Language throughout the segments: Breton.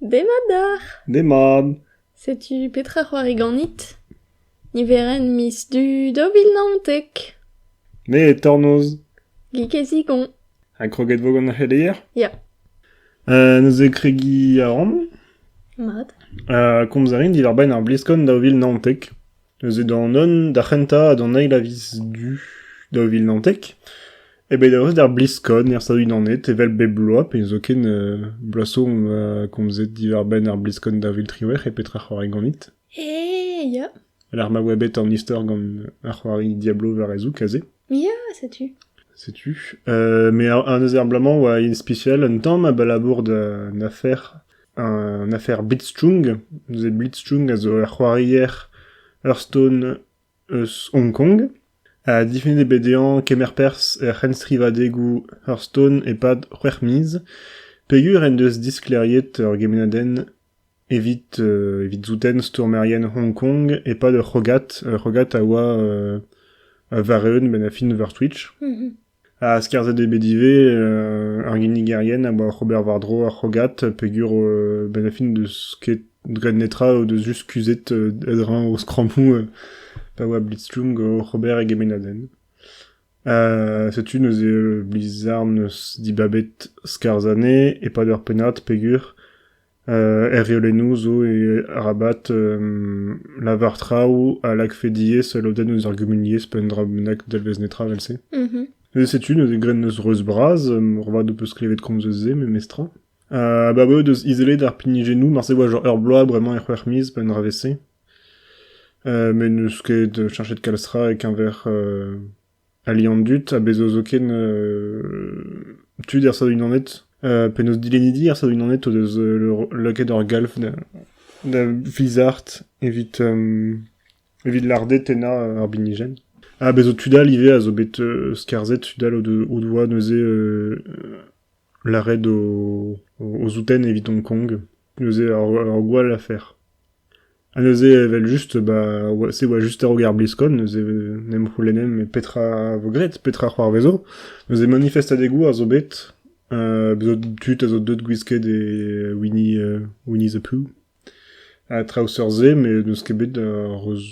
Demat deoc'h. Demat. Setu petra c'hoari ganit. Niverenn miz du daou vil naontek. Me e tornoz. Gig e zigon. Ha kroget vo gant ar c'heleier Ya. Uh, neuze kregiñ a ran. Mat. Uh, komz a rin diwar-benn ar bliskon daou vil naontek. Neuze d'an un d'ar c'hentañ ha d'an eil a viz du daou vil naontek eo bet daoust d'ar bliskod er Stadoù-Unanet evel bep bloaz pe zoken euh, bloaz zo omp euh, komzet diwar-benn ar bliskod daou vil triwec'h e petra c'hoari ganit. Eh, ya, Alar ma oa bet an istor gant ar c'hoari Diablo war e zoug aze. ya, setu. Setu. Euh, mais un eus ar bloaz-mañ oa spécial un tamm abalamour d'un afer Un afer blitzchung. Neuze blitzchung a zo ur c'hoarier hearthstone eus Hong Kong. Ha difennet eo bet dezhañ kemer perzh er c'henstrivadegoù hearthstone e-pad c'hwec'h miz, peogwir en deus disklêriet ur gemennadenn evit euh, evit souten stourmerien Hong Kong e-pad ur c'hrogad. Ur c'hrogad a oa euh, a vareeun benn ar fin war Twitch. Ha skarzhet eo bet ivez ar ginigerien a oa oc'h ober war-dro ar c'hrogad peogwir benn ar fin n'eus ket graet netra o deus just kuzhet a-dreñv o skrammoù pa oa Blitzstrom oc'h ober e gemennadenn. setu neuze Blizzard 'neus dibabet skarzh anezhe e-pad ur pennad peogwir Er reolennoù zo arabat lavar traoù a lakfe diaes lodenn eus ar gumuniezh pe un dra bennak dalvez netra evel-se. Neuze setu neuze graet neus reuz-bras, moarvat ho peus klevet komz eus se memestra. Ha ba bev deus izelet ar pinijennoù, marse oa genre ur bloaz bremañ e c'hwec'h miz, pa un dra vez-se. met n'eus ket chanchet kalz tra e-keñver ali an dud ha bezo zoken tud er Stadoù-Unanet penaos dilennidi er Stadoù-Unanet o deus lakaet ur galv da vizart evit evit larded tennañ ar binijenn. Ha bezo tud all ivez a zo bet skarzhet tud all o doa neuze Lâret o zoutenn evidomp Kong, neuze ur gwall afer. Ha neuze evel-just ba se e oa just a-raok ar bliskol, neuze n'em c'houlennemp petra a vo graet, petra a c'hoarvezo. Neuze manifestadegoù a zo bet, tud a zo deuet gwisket e Winnie the Pooh ha traoù seurt-se, met n'eus ket bet ar reuz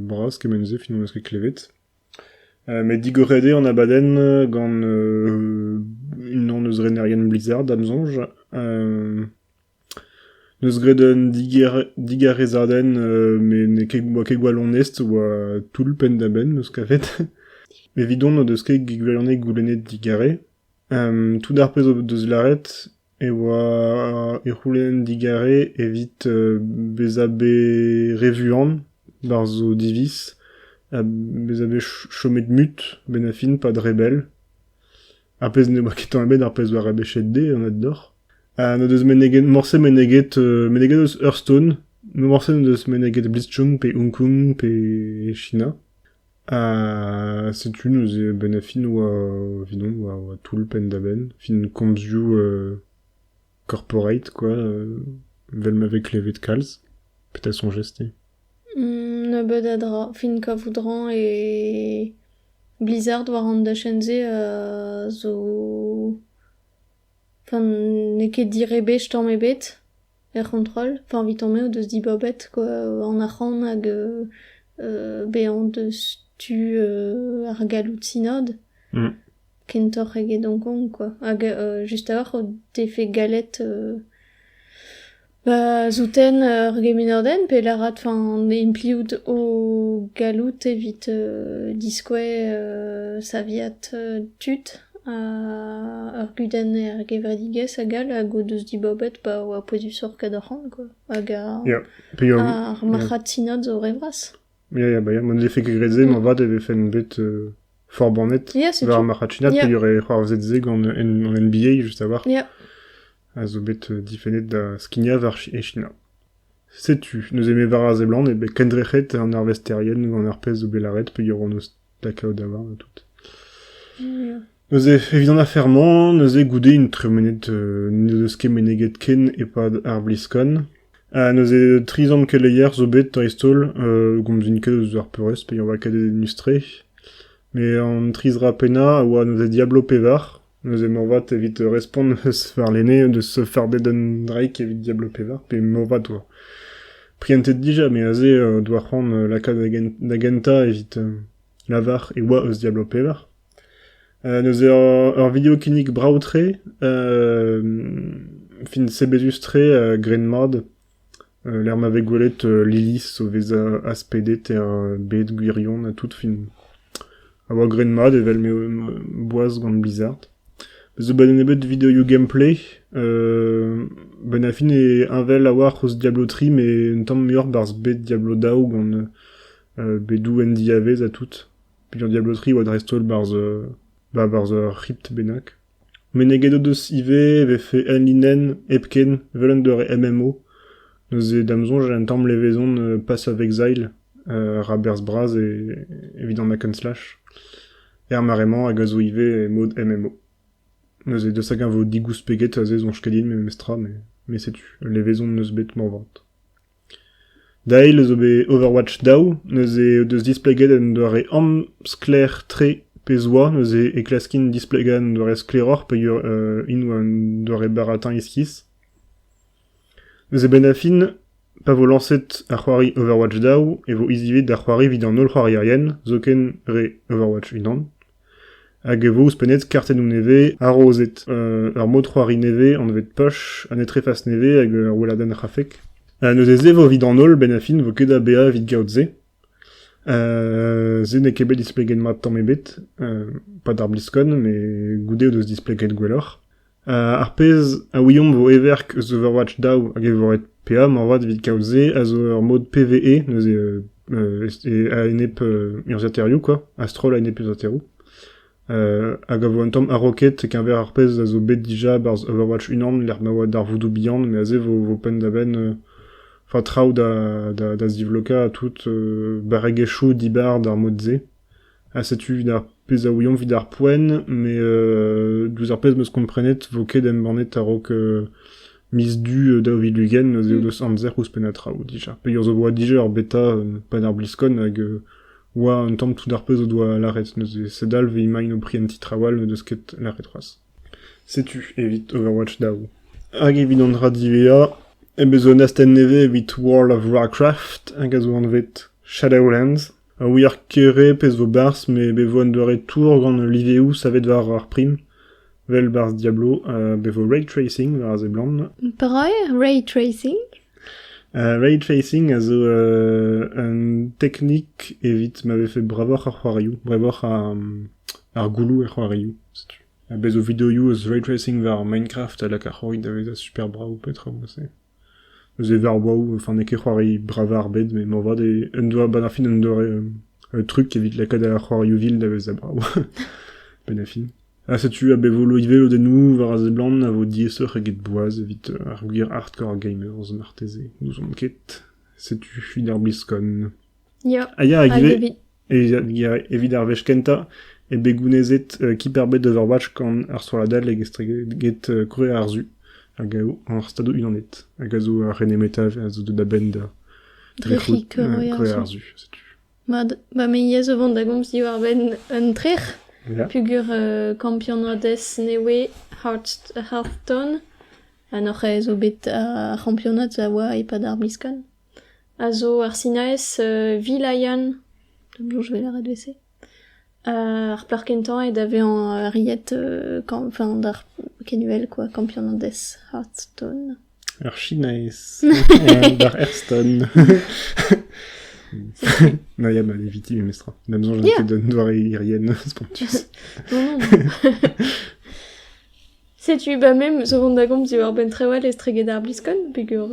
bras kement-se, finalement n'eus ket klevet. met digoret eo an abadenn gant unan eus renerien Blizzard, da'm soñj. Neus graet un digarezadenn met n'eo ket boa ket gwallonest, oa toull penn-da-benn 'meus kavet. Evidon o deus ket gwallonest goulennet digare. tout ar pezh o deus lâret e oa e c'houlenn digare evit bezañ bet re vuan barzh o diviz ha bezañ bet chomet mut a-benn ar fin pad re bell. Ar pezh ne oa ket tamm ebet ar pezh oa rebechet dezhe anat deoc'h. Ha n'o deus meneget morse meneget meneget eus Hearthstone, morse n'o deus meneget Blitzchung pe Hong Kong pe China. Setu neuze a-benn ar fin oa evidomp oa toull penn-da-benn, fin komzioù corporate quoi, vel ma vez klevet kalz. Petra soñjez te? Nebeut a dra. Fin kavout rañ e Blizzard war an dachenn-se zo... Enfin n'eo ket direbech tamm ebet. Er c'hontrol, fañ evitomp eo deus dibabet an arc'hant hag bezañ deus tu ar galloudsinod kentoc'h eget Hong Kong kwa hag just a-walc'h o defe gallet ba souten ur gemenordenn pe lârat fañ implijiout o galloud evit diskouez saviad tud. Ur kudenn er gevredigezh hag all hag o deus dibabet pa oa pouezusoc'h kadorc'han quoi hag ar marc'had-sinod zo re vras. Ya ya ba ya ma 'nlefe ket graet se moarvat e vefen bet forbannet war ar marc'had-sinod pe y aurait c'hoarzhet se gant an NBA just a voir a zo bet difennet da skignañ war e China. Setu neuze me war ar seblant e be kendrec'het an arvesterien gant ar pezh zo bet lâret pe y auront Pas kaout a oar tout. Neuze, evit an afer-mañ, neuze goude int tremenet, euh, n'ez eus ket meneget ken e-pad ar BlizzCon. Ha neuze tri zant keleier zo bet dreist-holl, euh, gomzin ket eus ar peurrest, pe on va ket enustre. Mais an tri zra pennañ a oa neuze Diablo pevar, Neuze moarvat, evit respont eus warlene, deus farded un draig evit Diablo pevar, pe moarvat oa prientet dija, me aze uh, doa c'hoant uh, lakaat da gentañ evit uh, lavar e oa eus Diablo pevar. Uh, neuze ur, ur video kinnig brav-tre, uh, fin sebezus-tre, uh, gren mat, Lec'h ma vez gwelet Lilith o vezañ aspedet er bed gwirion ha tout fin. A oa graet mat evel m'eo boaz gant Blizzard. Bez' zo 'ba da nebeut videoioù gameplay, benn ar fin e heñvel a-walc'h ouzh Diablo tri met un tamm muioc'h 'barzh bed Diablo daou gant bedoù en diavaez ha tout. Piv eo Diablo tri e oa dreist-holl 'barzh ur c'hrypt bennak. Meneget o deus ivez e vefe enlinenn hepken evel un doare MMO. Neuze, da'm soñj, un tamm levezon Pass of Exile, ra berzh bras evit an hack and slash, er mare-mañ hag a zo ivez mod MMO. Neuze, deus hag-eñ vo digoust peget aze soñj ket din memestra, met setu, levezon 'neus bet moarvat. Dale a zo bet Overwatch daou, neuze o deus displeget un doare amsklaer-tre pezh oa, neuze e klaskin displegañ un doare sklaeroc'h peogwir int oa un doare baratin iskis. Neuze benn ar fin, pa vo lañset ar c'hoari Overwatch daou e vo hiziv ivez da c'hoari evit an holl c'hoarierien, zoken re Overwatch unan. Hag e vo ouzhpennet kartennoù nevez harozed, ur mod-c'hoari nevez anvet Push, un etrefas nevez hag ur weladenn rafek. neuze-se vo evit an holl benn a fin vo ket da baeañ evit gaout se. se n'eo ket bet displeget mat tamm ebet, pa d'ar BlizzCon, met goude o deus displeget gwelloc'h. Ar pezh a ouiomp vo heverk eus Overwatch daou hag e vo ret peadra moarvat evit kaout se a zo ur mod PvE neuze a-enep urzhiataerioù kwa, a-stroll a-enep urzhiataeroù hag a vo un tamm a-raoked keñver ar pezh a zo bet dija barzh Overwatch unan lec'h ma oa darvoudoù bihan met aze vo vo penn-da-benn enfin traoù da da zivlokañ tout barregezhioù dibar d'ar mod-se. ha setu evit ar pezh a ouiomp evit ar poent, mais euh, diouzh ar pezh m'eus komprenet vo ket embannet a-raok euh, miz du euh, daou vil ugent ez eo deus amzer ouzhpenn a traoù dija. Peger zo boa dija ur beta euh, pa d'ar bliskon hag euh, oa un tamm tout ar pezh o doa lâret neuze se dalv e imaint o pri un ti traoù all n'eus ket lâret c'hoazh. Setu evit Overwatch daou. Hag evit an dra divea, e bez un astenn nevez evit World of Warcraft hag a zo anvet Shadowlands. A ouier kere pezh vo berzh met bet vo un doare tour gant liveoù savet war ar prim, vel barzh Diablo ha bet vo ray tracing war a seblant. Breur ray tracing? Uh, ray tracing a zo uh, un teknik evit ma vefe bravoc'h ar c'hoarioù, bravoc'h ar, ar gouloù er c'hoarioù. Setu. Ha bez zo videoioù eus ray tracing war Minecraft a lak ar c'hoari da vezañ super brav petra vo se. Neuze e varv brav, enfin n'eo ket c'hoari bravañ ar bed, met moarvat en doa abaoe ar fin un doare truc evit lakaat ar c'hoarioù vil da vezañ brav benn ar fin. Ha setu a-bet volo ivez lodennoù war a seblant a vo diaesoc'h eget boaz evit ar gwir hardcore gamers marteze, n'ouzon ket. Setu fin ar BlizzCon. Ya, Ah ya, hag ivez, evit... evit, evit ar wech kentañ eo bet gounezet euh, Kipperbed Overwatch gant ar strolladdell hag estreget euh, krouer ar Su hag ar Stadoù Unanet hag a zo ar René Meta a zo da benn da trec'hout euh, krouer ar Su setu. Mat, ba me yez o vont da gomz diwar-benn un trec'h yeah. pugur uh, kampionadez newe Hearthstone ha noc'h zo bet ar c'hampionad a oa e-pad ar miskan. a zo ar sinaez Vilayan, penaos e vez lâret evel-se. ar plac'h kentañ eo da vezañ riet enfin d'ar kenüvel quoi Campianades Hearthstone. Ur sinaez d'ar Hearthstone. non, yeah, bah, éviter memestra. On a besoin de d'un doare irienne spontus. non, non. Setu, bah me 'meus o vont da gomz diwar-benn trawal estreget ar bliskon, peger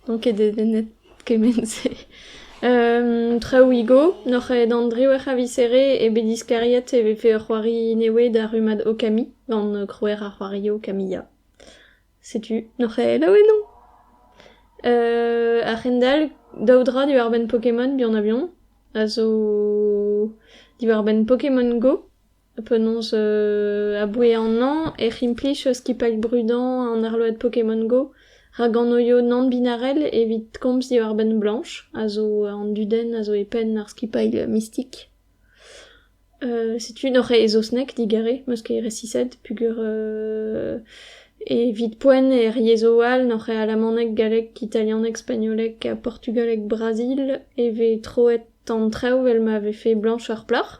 n'on ket dedennet kement-se. traoù Igo, n'oc'h aet an driwec'h a viz-here e bet diskariet e vefe ur c'hoari newe d'ar rummad Okami gant krouer ar c'hoari Okamiya. Setu, n'oc'h aet ao enno! a-hend-all, daou dra diwar-benn Pokémon, bihan-ha-bihan, a zo diwar-benn Pokémon Go. Penaos, aboue an hañv ec'h implij skipailh brudañ an arload Pokémon Go, rak anoio nann-binarel evit komz diwar-benn Blanche, a zo an dudenn a zo e penn ar skipailh mistik. setu n'oc'h ket e saozneg digare, 'm eus ket resiset peogwir evit poent er yezhoù all n'oc'h ket alamaneg, galleg, italianeg, spagnoleg ha portugaleg Brazil e vez troet an traoù 'vel ma vefe Blanche ar plac'h.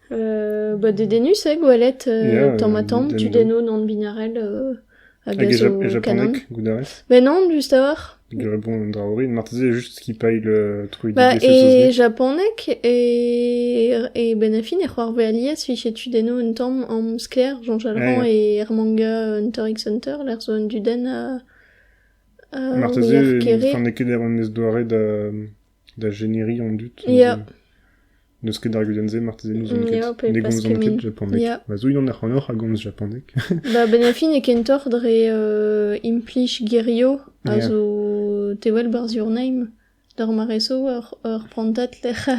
Ba dedennus eo gwelet tamm-ha-tamm tudennoù nann-binarel a gas ho kanan. Ben non, just a-walc'h. Pegwir eo bon un dra orin. Marteze just skipailh troidigezh e saozneg. E japaneg e benn a fin e c'hoarvez alies fiche tudennoù un tamm amsklaer Jean-Jalran e er manga Hunter x Hunter lec'h zo un dudenn a marteze n'eo ket ret an doare da Da jeneri an dud n'eus ket ar gudenn-se, marteze n'ouzon ket. Ne gomzan ket japaneg. Ma zo unan ac'hanoc'h a gomz japaneg. Ba benn ar fin e kentoc'h dre implij gerio a zo te wel barzh your name d'ar mareso ur prantad lec'h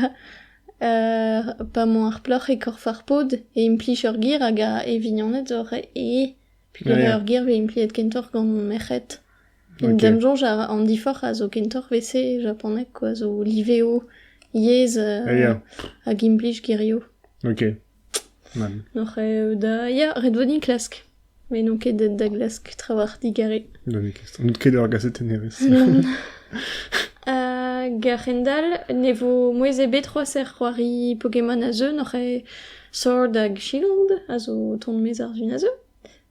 pa mañ ar plac'h e korf ar pod e implij ur ger hag e vignoned oc'h e. Peogwir ur ger vez impliet kentoc'h gant merc'hed. D'am soñj, an diforc'h a zo kentoc'h e-se e japaneg quoi, zo liveo, yezh hag implij gerioù. Ok. Oc'h da... Ya, ret vo din klask. Met n'on ket da glask trawalc'h digare. N'out ket ur gazetennerez. Hag a-hendall ne vo mouezh ebet c'hoazh er c'hoari Pokémon a zeu, n'oc'h Sword hag Shield a zo ton-mez ar zu a zeu.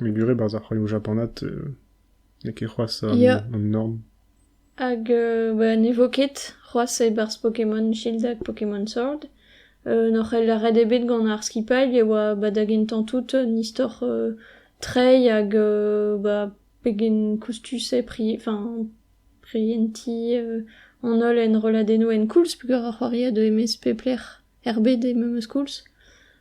Me gure barzh ar c'hoarioù japanat n'eo ket c'hoazh an norm. Hag ne vo ket c'hoazh e-barzh Pokémon Shield hag Pokémon Sword. N'hor c'hell ret ebet gant ar skipailh e oa ba da gentañ tout un istor treiñ hag ba pegen koustus eo prientiñ an holl enrolladennoù en koulz peogwir ar c'hoari a deu e-maez pep lec'h er bed eo memes koulz.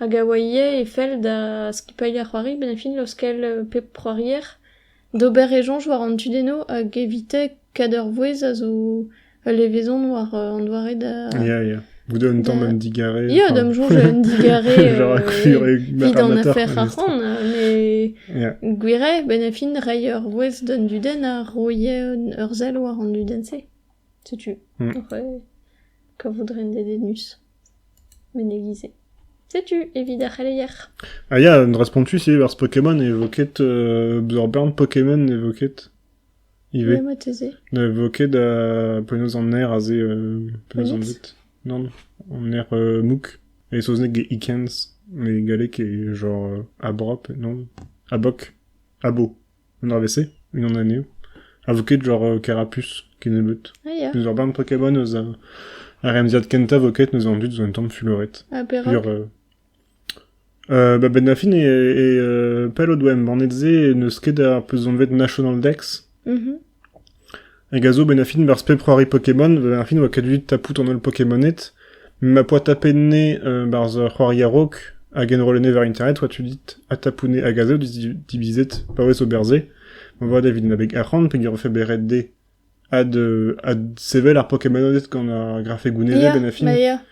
Hag a oa ivez e fell da skipailh ar c'hoari benn-fin laoskel pep c'hoarier d'ober e soñj war an tudennoù hag evite kad ur vouezh a zo ul levezon war an doare da... Ya, ya. Bout un tamm un digarez. Ya, d'am soñj un digarez evit an afer ar c'hoant. Mais gwir eo, benn-fin reiñ ur vouezh d'un dudenn a roie ur sell war an dudenn-se. Setu, mm. kavout ren dedennus. Menegiñ-se. Setu evit ar c'heleier. Ah ya, un dra spontus ivez barzh Pokémon e vo ket... euh, ur bern Pokémon e vo ket ivez. Ouais, moites. Ne vo ket da penaos an aer aze euh, penaos on dit. Non, an aer euh, mouk. E saozneg e Ikens, mais galleg e genre euh, abrop, non Abok. Abo. an arvest-se, unan anezho, a vo ket genre Kerapus kennebeut. Ah, ya. N'eus ur bern Pokémon eus uh, ar remziad kentañ vo ket neus an dud zo un tamm fuloret. Ha perak Sur, euh, euh, bah, Ben Daffin et, et euh, pell o doa embannet se n'eus ket ar peus anvet National Dex. Mhm. Hag a zo 'benn ar fin barzh pep c'hoari Pokémon. Ba'n ar fin oa ket deuet tapout an holl Pokémoned. Ma poa tapet-ne euh, barzh ur c'hoari a-raok hag enrollet-ne war internet oa tu dit atapout-ne hag a zo divizet paouez ober-se. Ma vat evit en abeg arc'hant pegwir ofe bet ret dezhe ad, euh, ad sevel ar Pokémoned gant ar grafegounezed yeah, benn a fin. Ma, yeah.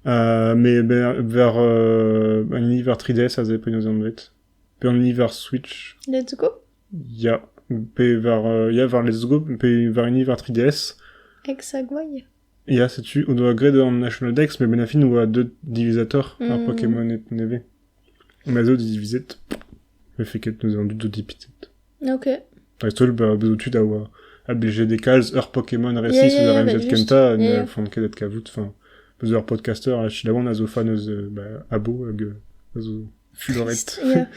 Uh, mais ben, vers euh, un univers 3DS a ze penaos anvet. Pe un univers Switch. Let's go. Ya, pe war euh, ya war Let's Go pe war hini war 3DS. Hexagway Ya, setu, on doa graet an National Dex, mais ben fin oa deux divisateurs ar Mm. Pokémon nevez. Ma zo diviset, mais fait ket nous en doute dipitet. Ok. Dreist-holl, bah, bezo tud a oa ABGD calz, ur Pokémon récit Yeah, sous yeah, yeah, RMZ bah, juste. Kenta, ne Yeah, yeah. font ket et kavout, enfin, bezo ur podcaster, a chilawan a zo fan eus euh, bah, Abo hag euh, a zo fuloret. Yeah.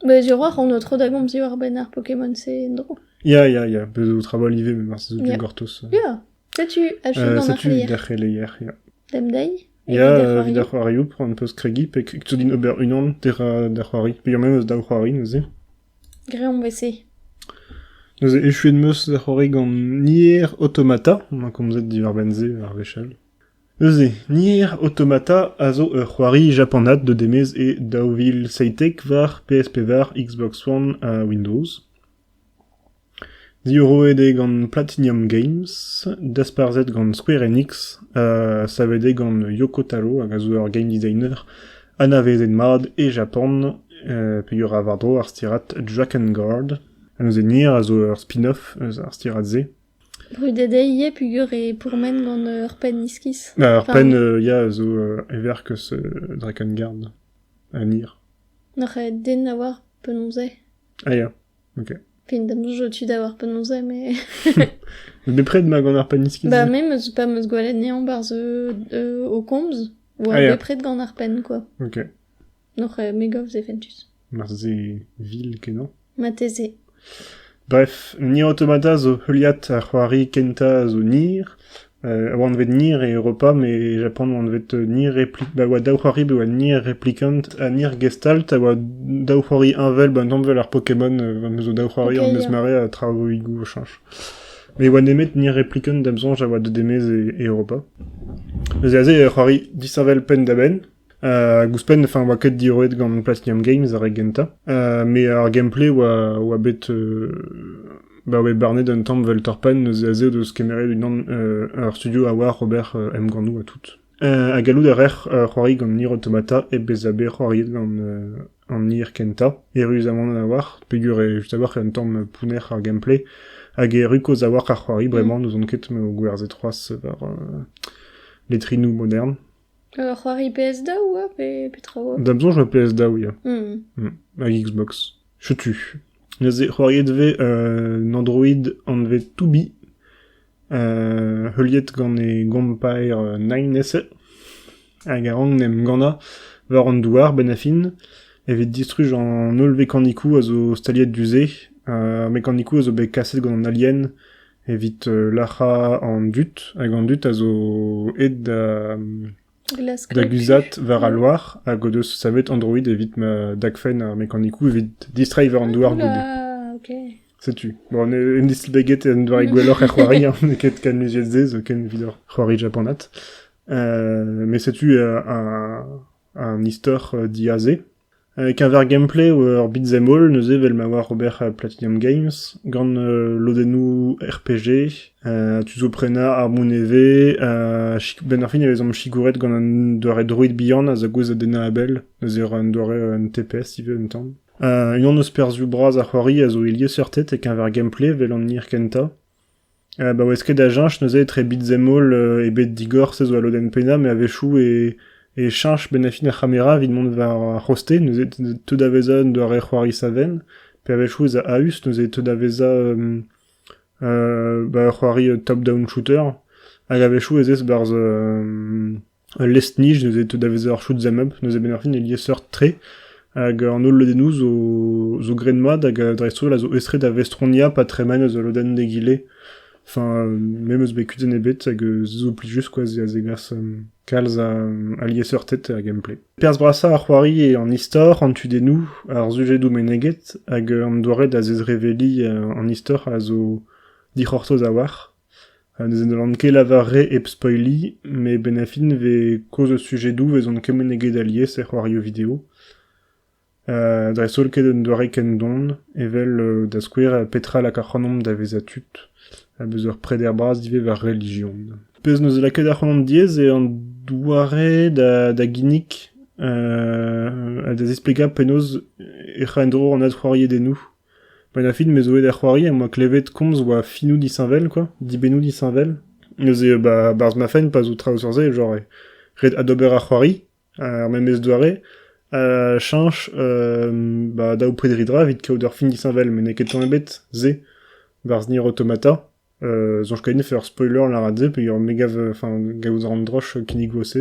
Bah Zerwac'h on o tro da gomz diwar-benn ar Pokémon-se en-dro. Ya, ya, ya, bez zo trabalh ivez, mais marteze zo Ja. gortoz. Ya, setu achu Euh, gant ar setu c'hleier. d'ar c'heleer, ya. Demdei et Ya, euh, vit da c'hoarioù, an peus kregiñ, pe tu din ober unan dira da c'hoari. Pe ur memes daou c'hoari neuze. Greomp wese. Neuze echuet meus da c'hoari gant Nier Automata, on a komzet diwar-benn se ar wechall. Eus Nier Automata a zo ur c'hoari japanat da demez e daou vil seitek war PS5, Xbox One ha Windows. Diorroet eo gant Platinum Games, dasparzhet gant Square Enix ha savet eo gant Yoko Taro hag a zo ur game designer anavezet mat e Japan peogwir a war-dro ar stirad Dragon Guard. Neuze Nier a zo ur spin-off eus ar stirad-se. Brudet eo ivez peogwir e pourmen gant ur penn iskis. Ur penn, ya, zo e verkez Drakengard, un hir. N'oc'h ket den da voir penaos eo. Ah ya, ok. Fin damdouz zo tu da voir penaos eo, mais... Bepred ma gant ar penn iskis. Bah, me meus pas meus gwelet nezañ barzh au komz, oa ah, bepred gant ar penn, quoi. Ok. N'oc'h ket me gav se fentus. Marse vil kenañ. Marteze. Bref, ni automata zo heuliad ar c'hoari kentañ zo Nier. Euh, a oa anvet Nier e Europa, mais Japan oa anvet Nier Repli... Ba oa daou c'hoari, ba oa Nier Replicant ha Nier Gestalt, a oa daou c'hoari heñvel, ba un danvell ar Pokémon, euh, am eus daou c'hoari Ok, am eus ya. mare ha traoùigoù chanch. Mais oa nemet Nier Replicant, da'm soñj, a oa deut e-maez e, e Europa. Eus aze eo ur c'hoari disheñvel penn-da-benn, hag ouzhpenn enfin oa ket diroet gant Platinum Games ar re gentañ mais ar gameplay oa oa bet ba oa barnet un tamm vel torpenn eus a zeu deus kemeret unan ur studio a oa Robert emgannoù ha tout ha gallout a rec'h c'hoari gant Nier Automata hep bezañ bet c'hoariet gant an Nier kentañ erru zamant a-walc'h peger eo just a-walc'h un tamm pounner ar gameplay hag erru kozh a-walc'h ar c'hoari bremañ n'ouzon ket m'eo gwerzhet c'hoazh war letrinoù modern Ur c'hoari PS2 oa pe petra oa? Da soñj ma PS2 ia. Mm. Hag Xbox. Setu. Neuze, c'hoariet vez euh, un android anvet Tubi, euh, heuliet gant e gompaer euh, Nine-Nesse, hag a rank en em gannañ war an douar, benn a fin, evit distruj an holl vekanikoù a zo staliet du-se. Euh, ar mekanikoù a zo bet kaset gant an alien, evit lac'hañ an dud hag an dud a zo aet da da guzhat war al loar hag o deus savet Android evit ma dagfenn ar mekanikoù evit distreiñ war an douar goude. Setu. Bon, en distaget en doare gwelloc'h er c'hoari, hein. n'eo ket ken luziet se, zo ken evit ur c'hoari japanat. Euh, mais setu euh, un, un istor diazé E-keñver gameplay ur beat'em all neuze evel ma oar ober Platinum Games gant lodennoù RPG tu zo prenañ armoù nevez benn ar fin e vezomp sigouret gant un doare droid bihan a zegouezh da dennañ a bell neuze ur doare un TPS ivez un tamm. Unan eus perzhioù bras ar c'hoari a zo e lieseurted e-keñver gameplay evel an hir kentañ. Baouez ket da cheñch neuze etre bizem-holl ebet digor se zo al lodenn pennañ, met a-wechoù e cheñch bennafi ar c'hamera evit mont war ar c'hoste, neuze teu da vezañ un doare c'hoari savenn, pe a-wechoù ez a a-us neuze teu da vezañ ur c'hoari top-down shooter, hag a-wechoù ez ez barzh Ul lestr-nij neuze teu da vezañ ur choud zamub, neuze a-benn-ar-fin e liesseurt-tre hag an holl lodennoù zo graet-mat hag dreist-holl a zo aes-tre da vestroniañ pa tremen eus ul lodenn d'egile. Enfin, me 'm eus bet kudenn ebet hag se zo plijus quoi, a zegas kalz a liesseurted er gameplay. Perzh brasañ ar c'hoari eo an istor, an tudennoù, ar sujedoù meneget hag an doare da zezreveliñ an istor a zo dic'hortoz a-walc'h. Ha ne zellan ket lavaret hep spoilliñ, met benn ar fin e vez kaoz eus sujedoù 'vezont kement eget alies er c'hoarioù video. dreist-holl ket un doare ken don, evel da skouer petra lak ac'hanomp da vezañ tud, ha beus ur preder bras ivez war relijion. Pezh n'eus lakaet ac'hanomp diaes eo an doare da ginnig ha da zisplegañ penaos ec'h a en-dro an adc'hoariedennoù. Pag a fin me zo aet da c'hoari am boa klevet komz oa filmoù disheñvel quoi, dibennoù disheñvel. Neuze ba barzh ma fenn pa zo traoù sur se genre ret adober ar c'hoari ar memes doare ha cheñch ba daou predri dra evit kaout ur film disheñvel met n'eo ket tamm ebet se barzh Nier Automata. soñj kainef ur spoiler lâret se peogwir me gav enfin gaout a ran droch kinnigo se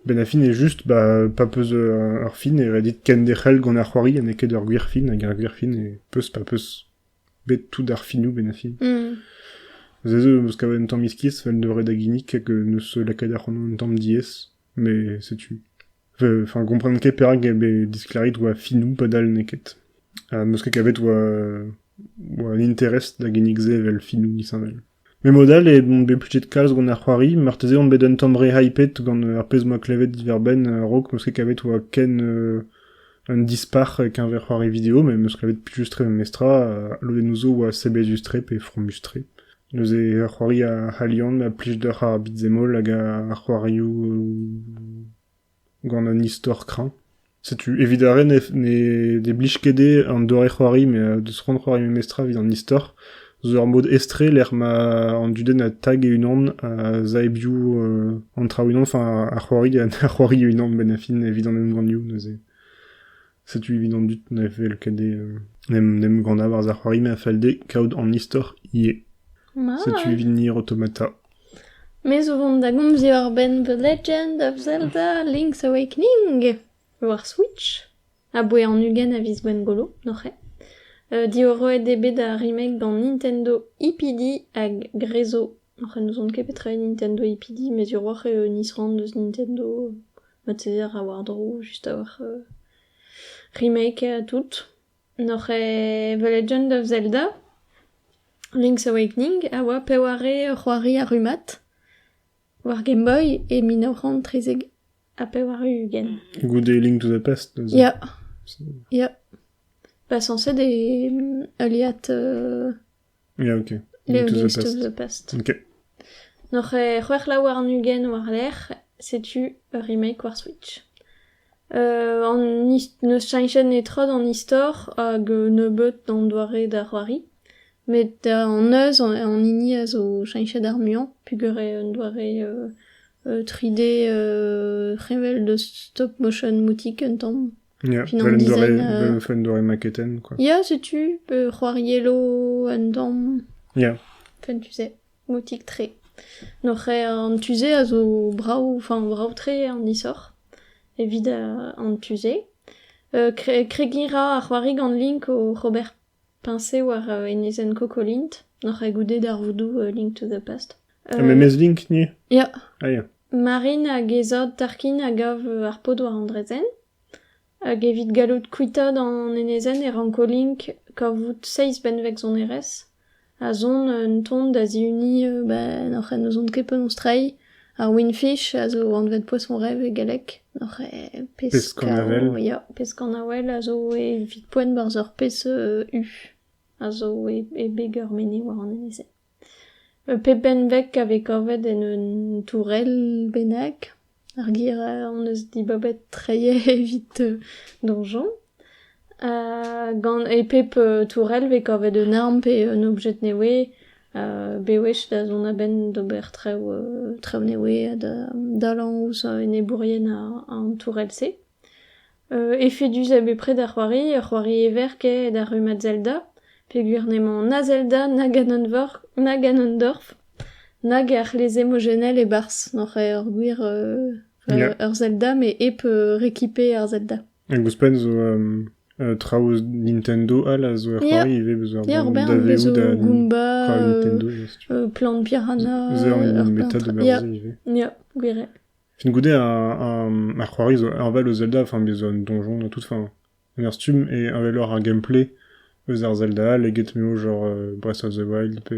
benn ar fin eo just ba pa peus ur fin e red dit kenderc'hel gant ar c'hoari ha n'eo ket ur gwir fin hag ar gwir fin e peus pa peus bet tout ar finoù benn ar fin se zo 'm eus kavet un tamm iskis 'vel ne ret da ginnig hag neus lakaet ac'hanon un tamm diaes Mais setu. Enfin, comprendre ket perak e bet disclarit oa finou padal n'eo ket. Ha meus ket kavet oa, oa un interest da ginnig se vel finou disheñvel. Mais mod all eo on bet plutet kalz gant ar c'hoari, marteze on bet un tamm re hyped gant ar pezh m'oa klevet diver-benn a-raok meus ket kavet oa ken euh, un dispac'h keñver c'hoari video, mais meus klevet plijustre memestra, ha lodennoù zo oa sebezus-tre pe fromus-tre. Neuze a c'hoari ar c'halian a plij deoc'h ar beat-zemol hag ar c'hoarioù gant un istor kreñv. Setu evit ar re ne ne blij ket dezhe an doare-c'hoari met deus c'hoant c'hoari memestra evit an istor zo ur mod estre lec'h ma an dudenn a tag e-unan a-zaebioù an traoù e-unan, enfin ar c'hoari ha c'hoari e-unan benn ar fin evit an emgannioù neuze. Setu evit an dud ne fell ket d'em ganañ war ar c'hoari ma fell dezhe kaout an istor ivez. Setu evit Nier Automata. Me zo vont da gomziñ war-benn The Legend of Zelda Link's Awakening war Switch, aboe an ugent a viz Gwengolo, noc'he. Diwaroet eo bet ar remake gant Nintendo EPD hag Grezo Oc'h n'ouzon ket petra eo Nintendo EPD, met hiroc'h eo un isrann eus Nintendo marteze a ra war-dro just a-walc'h remake ha tout. N'oc'h eo The Legend of Zelda, Link's Awakening a oa peware c'hoari a rummad war Game Boy e mil nav c'hant trezek ha pevar-ugent. Goude Link to the Past neuze. Ya, ya. Pas censé des... heuliad euh, Ya, ok. Leogist of the Past. Ok. N'oc'h ket c'hwec'h la warn-ugent war-lerc'h, setu ur remake war Switch. Euh, an his- n'eus cheñchet netra d'an istor hag euh, nebeut d'an doare d'ar c'hoari. Met an eus, an an hini a zo cheñchet ar muiañ, pugur eo un doare euh, euh, 3D euh, revel de stop motion moutik un tamm. Ya, Fin vel an un doare, dizaine, euh, vel- un doare maketenn, quoi. Ya, setu, euh, c'hoariello un damm, Ya, enfin, tu sais, motik-tre. Noc'h eo an tu-se a zo brav, enfin, brav-tre an isor, evit euh, an tu-se. Euh, kre- kregiñ ra ar c'hoari gant link o c'hober Peñse war enezenn Kokolint, n'oc'h ket goude darvoudoù Link to the Past. Ha memes Link, ni Ya. Ah, ya. Marine hag he zad Tarkin a gav ar paotr war an draezhenn. Hag evit gallout kuitaat an enezenn e ranko Link kavout seizh benveg sonerezh, ha zont un ton da zihuniñ, ben, oc'h n'ouzont ket penaos treiñ, Ar wingfish a zo anvet poson-rev e galleg, oc'h e peskañ-avel ya, peskañ-avel a zo evit poent 'barzh ur pezh u a zo e beg ur mene war an enez-se. Pep benveg a vez kavet en un tourell bennak, ar gir hon eus dibabet treiñ evit donjon. Gant e pep tourell 'vez kavet un arm pe un objed nevez bewech da zont a-benn d'ober traoù traoù nevez ha da dalañ ouzh enebourien an tourell-se. Efedus eo bepred ar c'hoari, ur c'hoari everkaet ar rummad Zelda peogwir n'emañ na Zelda na Ganondorf na Ganondorf nag ar c'hleze emojennel e-barzh, n'oc'h ket ur gwir ur Zelda met hep rekipe ar Zelda. Hag ouzhpenn zo traoù eus Nintendo all a zo er c'hoari ivez, beus ur banne daveoù da c'hoari Nintendo. Plant Piranha. Ze an hini meta d'ober ze ivez. Ya, gwir eo. Fin goude, ar c'hoari zo enval eus Zelda, enfin, beus un donjon ha tout, enfin, un ur stumm et envel ar gameplay eus ar Zelda all eget m'eo genre Breath of the Wild pe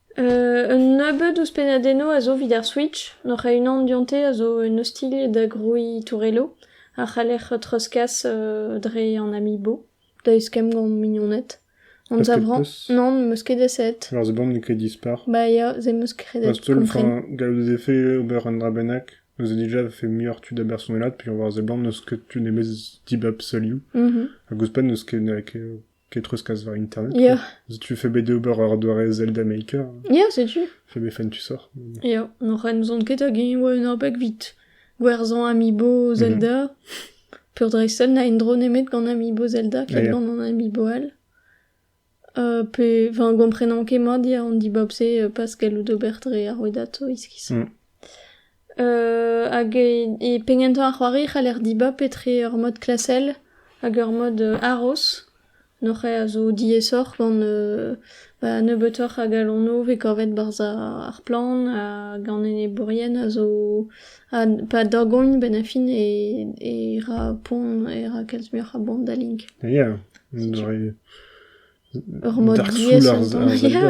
Un nebeud eus pennadennoù a zo evit ar Switch. N'oc'h a-unan dionte a zo un ostilh da grouiñ tourelloù a c'haller treuzkas dre an Amiibo da eskemm gant mignoned. Anzav 'rañ. Non, n'em eus ket aset. Alors c'est bon, n'eo ket dispar. Ba ya, se 'm eus kredet Bah, steul, enfin, kompren. gallout e vefe ober un dra bennak. Nous a déjà fait muioc'h tud abersonet là, puis on va voir seblant n'eus ket tu nemez dibab seul you. Mhm. Hag ouzhpenn n'eus ket, n'eus ket Ket treuzkas war internet. Ya, Setu fait bet d'ober ur doare Zelda Maker. ya, setu. Fait bet fentusoc'h. Ya, n'oc'h n'ouzon ket hag e oa un abeg vit. Gwerzhañ Amiibo Zelda. Peurdreisel na en-dro nemet gant Amiibo Zelda, ket Ja. gant an Amiibo all. Euh, pe, enfin, gomprenan ket mat ya an dibab-se euh, pas gallout ober dre ar rouedad, iskiz. Mm. Hag e penn gentañ ar c'hoari e c'haller dibab etre ur mod klasel hag ur mod haroz. Hor c'hae a zo diaesoc'h gant ba nebeutoc'h a galonoù vez kavet barzh ar plant hag an enebourien a zo ha pa dorgont benn ar fin e ra poan e ra kalz muioc'h a boan da link. Ya, un doare... Ur mod diaes ar sonj ya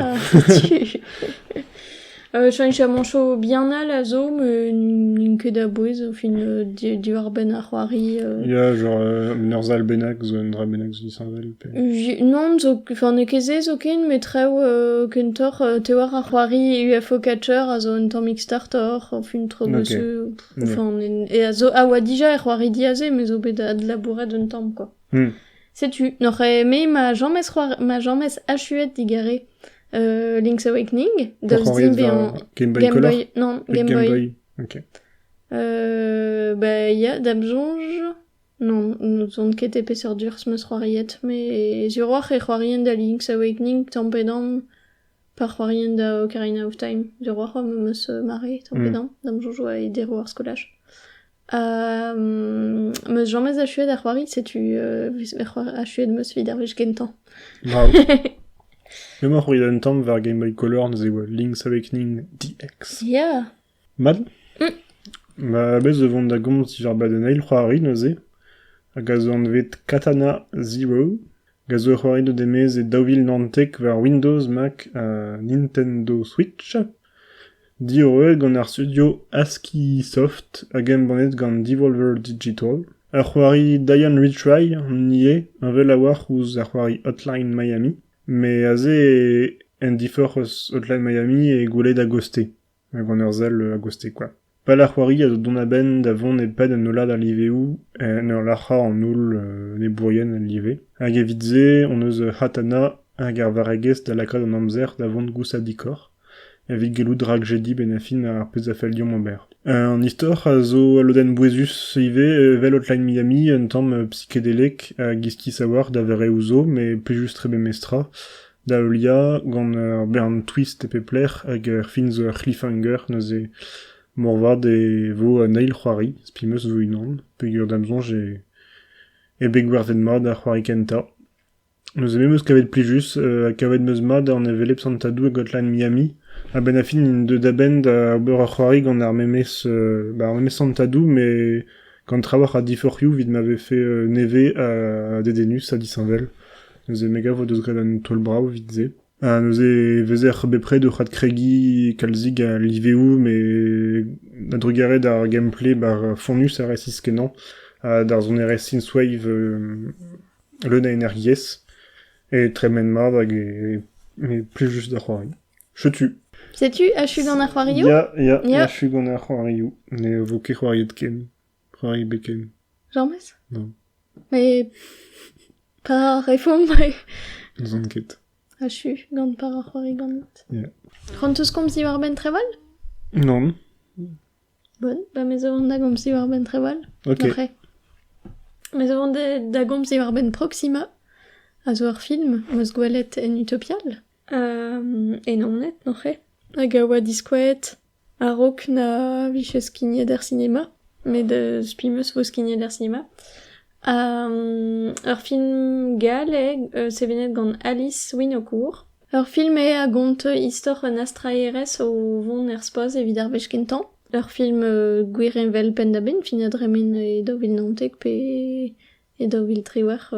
chamancho bien all a zo met n'int ket a-bouez au final diwar-benn ar c'hoari Ya, genre un urzhall bennak zo un dra bennak disheñvel pe... Non, zo enfin n'eo ket se zoken met traoù kentoc'h te war ar c'hoari UFO Catcher a zo un tammig startoc'h enfin tro bossu enfin et a zo a oa dija er c'hoari diaze mais zo bet adlabouret un tamm quoi Setu, n'oc'h eme ma james c'hoar, ma james achuet digare euh, Link's Awakening, daoust Oc'h dimp bezañ Game Boy Color? non, Game Boy. Boy. Ok. Euh, bah, ya, da'm soñj, non, n'ouzon ket e peseurt urs 'm eus c'hoariet, mais sur oc'h e c'hoarien da Link's Awakening tamm pe damm. Pa c'hoarien da Ocarina of Time, d'ur war-c'horn am eus mare tamm-pe-damm, da'm soñjo e deroù ar skolaj. M eus james achuet da c'hoari, setu vez achuet 'm eus evit ar wech gentañ. Brav! Emañ c'hoari un tamm war Game Boy Color neuze 'oa Link's Awakening DX. Ya! Mat ? Bez' e vont da gomz diwrabad un eil c'hoari neuze, hag a zo anvet Katana Zero, hag a zo ur c'hoari deuet e-maez e daou vil naontek war Windows, Mac ha Nintendo Switch, diorroet gant ar studio ASCIIsoft hag embannet gant Devolver Digital. Ur c'hoari Diane Retry on ivez, heñvel a-walc'h ouzh ar c'hoari Hotline Miami, met aze en diforc'h eus Hotline Miami eo gwelet a-gaoz-te. gant ur sell a-gostez kwa. Pal ar c'hoari a zo dont a-benn da vont e-pad un hollad a liveoù en ur lac'hañ an holl enebourien el live. Hag evit se hon eus Hatana hag ar varregezh da lakaat an amzer da vont gousadikoc'h evit gellout rakjediñ benn-ha-fin ar pezh a fell deomp ober. An istor a zo ul lodenn bouezus ivez evel Hotline Miami, un tamm psikedelek hag iskis a-walc'h da vereoù zo, met plijus-tre memestra. Da heuliañ, gant ur bern twist e pep lec'h hag ur fin zo ur c'hliffhanger neuze moarvat e vo un eil c'hoari, spi 'm eus 'vo unan, peogwir da'm soñj eo bet gwerzhet mat ar c'hoari kentañ. Neuze me 'm eus kavet plijus, ha kavet 'm eus mat an hevelep santadou e Gotland Miami. A-benn ar fin int deuet a-benn da ober ur c'hoari gant ar memes ba ar memes santadou met gant trawalc'h a diforc'hioù evit ma vefe nevez ha dedennus ha disheñvel. Neuze me gav o deus graet un taol brav evit se. Ha neuze e vezer bepred oc'h adkregiñ kalzik a liveoù met a-drugarez d'ar gameplay bar fonnus a resis kenañ ha d'ar sonerezh synthwave euh, leun a energiezh e tremen mat hag e, e plus juste da c'hoari. Setu. Setu achu gant ar c'hoarioù? Ya, ya, ya. achu gant ar c'hoarioù. Ne vo ket c'hoariet ken. P'har rit biken. Emaomp-ez? Non. Mais pa refomp N'ouzon ket. achu gant par ar c'hoari ganit. Yeah. C'hoanteus komzi war-benn treval? Non. Bon, ba me zo da gomzi war-benn treval. Ok. Après. Me zo da- da gomzi war-benn Proxima, a zo ur film, 'm eus gwelet en Utopial. E Naoned noc'he, hag a oa diskouezet a-raok na vije skignet er sinema, met eus spi 'm eus 'vo skignet er sinema. ur film gall eo sevenet gant Alice Winaucourt. Ur film eo a gont istor un astraerez o vont er spaz evit ar wech kentañ. Ur film gwir heñvel penn-da-benn, fin ha dremen e daou vil naontek pe E daou vil triwec'h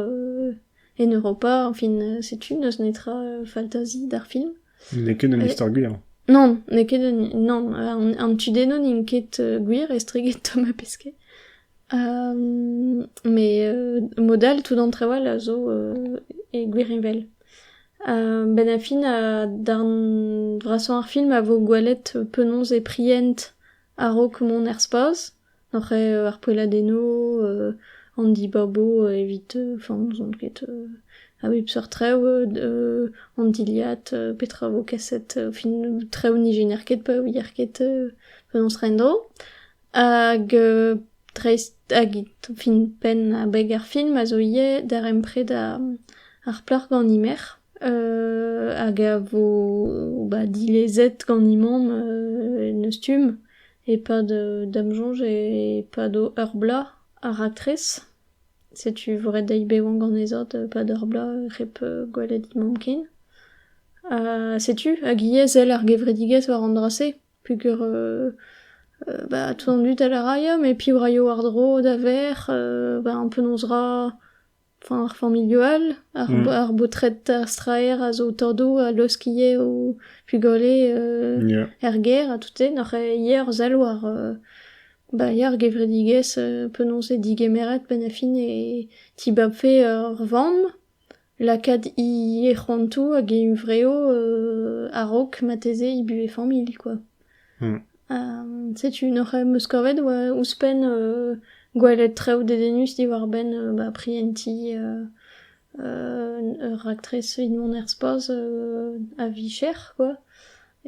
en Europa, añfin setu n'eus netra faltazi d'ar film. N'eo ket un istor gwir. Non, n'eo ket un... Non, an tudennoù n'int ket gwir estreget Tom ha Pesquet. mais mod all tout an traoù all a zo e gwirheñvel. ben a fin darn vrasañ ar film a vo gwelet penaos e prient a-raok mont er spas. Oc'h eo ar poelladennoù an dibabo evit enfin n'ouzon ket a bep seurt traoù an dilhad petra vo kaset fin traoù n'ijenner ket pa ouier ket penaos treiñ en-dro hag dreist hag fin penn abeg ar film a zo ivez darempred ar plac'h gant he merc'h hag a vo dilezet gant he mamm en e stumm. E-pad da'm soñj e-pad ur bloaz ar raktres, setu vrai deiz bevañ ganezhañ e-pad ur bloaz hep gwelet mamm ken. Ha setu hag ivez sell ar gevredigezh war an dra-se peogwir ba tout an dud a ra ya met piv raio war-dro da verc'h, ba an penaos 'ra. Enfin ar familhoù all, ar Mm. ar baotred straer a zo o tordoù a laosk ivez o pugale euh, Ya. er gêr ha tout-se. Nac'h eo ivez ur sell war euh, bah ya ar gevredigezh euh, penaos eo digemeret penn-ha-fin e tibabfe ur vamm lakaat he c'hoantoù hag he huñvreoù euh, a-raok marteze he buhez familh quoi. Setu neuze 'm eus kavet ouzhpenn gwelet traoù dedennus diwar-benn ba prientiñ ur raktres evit mont er spazh a-vicher quoi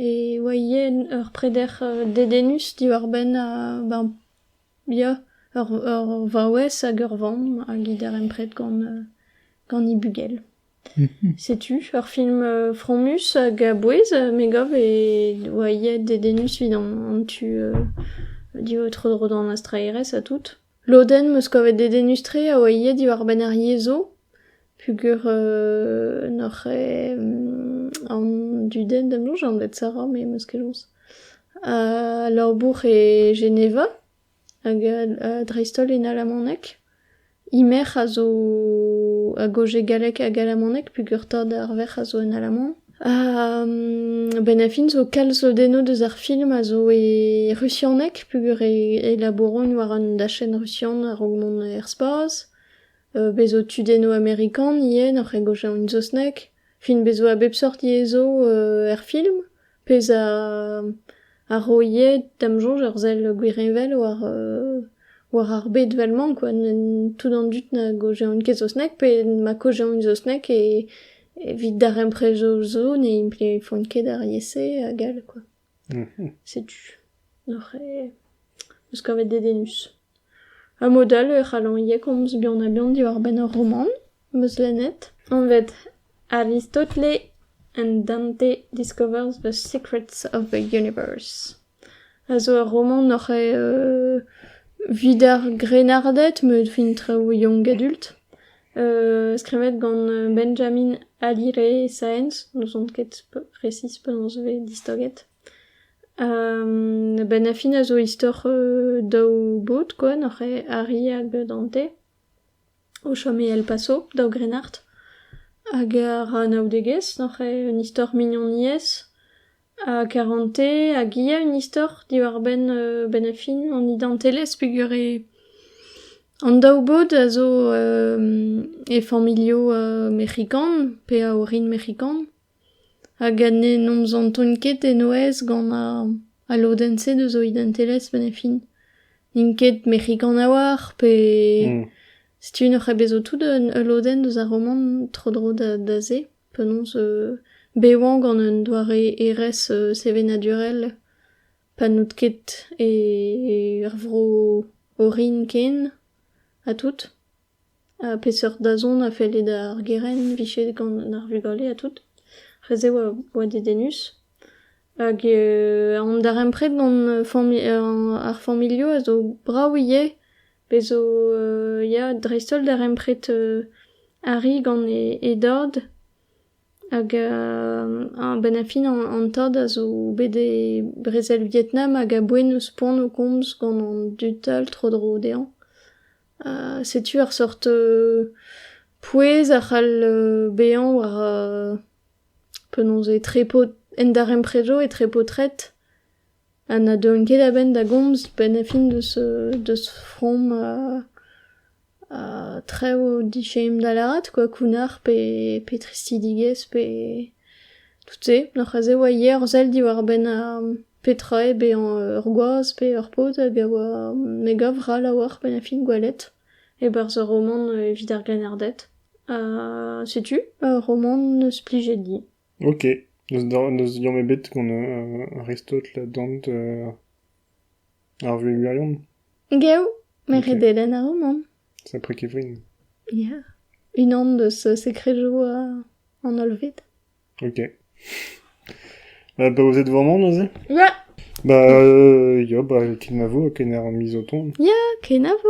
e oa ivez ur preder dedennus diwar-benn ben ya ur vaouez hag ur vamm a get darempred gant gant he bugel. Setu ur film fromus hag a-bouez me gav e oa aet dedennus evit an tu tro-dro d'an astraerezh ha tout. Lodenn 'm eus kavet dedennus-tre a oa aet diwar-benn ar yezhoù peogwir n'oc'h an dudenn da bloñj anvet Sarah me 'm eus keloñs. Ha labour e Geneva. Hag dreist-holl en alamaneg. Imer a zo hag o jeu gallek hag alamaneg peogwir ar verc'h a zo en alaman. A-benn ar fin zo kalz lodennoù deus ar film a zo e rusianeg peogwir e labouront war un dachenn rusian a-raok mont er spas. Bez' zo tudennoù amerikan ivez, oc'h egojañ en saozneg. Fin bez' zo a bep seurt yezh zo er film. Pezh a ro ivez da'm soñj ur sell gwirheñvel war ar bed vel-mañ kwa, tout an dud na gaozeont ket saozneg pe na kaozeont saozneg evit darempred zo zo ne implijfont ket ar yezh-se hag all kwa. Setu oc'h meus kavet dedennus. Ha mod all e c'hallan ivez komz buan-ha-buan diwar-benn ur romant. 'Meus lennet, anvet Aristotle and Dante Discovers the Secrets of the Universe, a zo ur romant oc'h evit ar grennarded met fin traoù young adult, skrivet gant Benjamin Hallyray Science, n'ouzon ket resis penaos e vez distaget. A-benn ar fin a zo istor daou baotr kwa, n'oc'h arri hag Dante. o chom e El Paso, daou grennard. Hag a ra anaoudegezh oc'h eo un istor mignoniezh ha karante hag ivez un istor diwar-benn benn-ar-fin an identelezh peogwir eo an daou bod a zo e familhoù mexikan pe a orin mexikan. Hag ne nomzantont ket e-nouez gant al lodenn-se deus o identelezh benn e fin. N'int ket mec'hikan a-walc'h pe... setu n'oc'h ket bet zo tout ul lodenn deus ar romant tro-dro da se. Penaos bevañ gant un doare hêrezh sevenadurel pa n'out ket er vro orin ken ha tout. Peseurt dazont a felle d'ar gerent vicher gant ar vugale ha tout? Re-se oa oa dedennus. Hag an darempred gant familh ar familhoù a zo brav ivez. Bez' zo ya dreist-holl darempred arri gant e dad. Hag a-benn ar fin an tad a zo bet e brezel Vietnam hag a boent ouzh poan o komz gant an dud all tro-dro dezhañ. Setu ur sort pouez a c'hall bezañ war penaos etre paot- en darempredoù etre paotred ha na deuont ket a-benn da gomz 'benn ar fin deus deus from traoù dichein da lâret kwa kounnar pe pe tristidigezh pe tout se. Oc'h aze 'oa yer sell diwar-benn ar. Petra eo bezañ ur gwaz pe ur paotr hag a oa... me gav ral a-walc'h penn ar fin gwelet e-barzh ur romant evit ar grennarded. Ha setu ur romant 'neus plijet din. Ok, n'eus liamm ebet gant Aristote, la Dante, ar vuhez gwirion? Geo, met re dedenn ar romant. Sapre kevrin. Ya, unan deus sekrejoù an hollved. Ok. Bah, bah, vous êtes vraiment neuze Ouais. Bah, euh, yo, bah, kenavo, kener mizoton. Ya, kenavo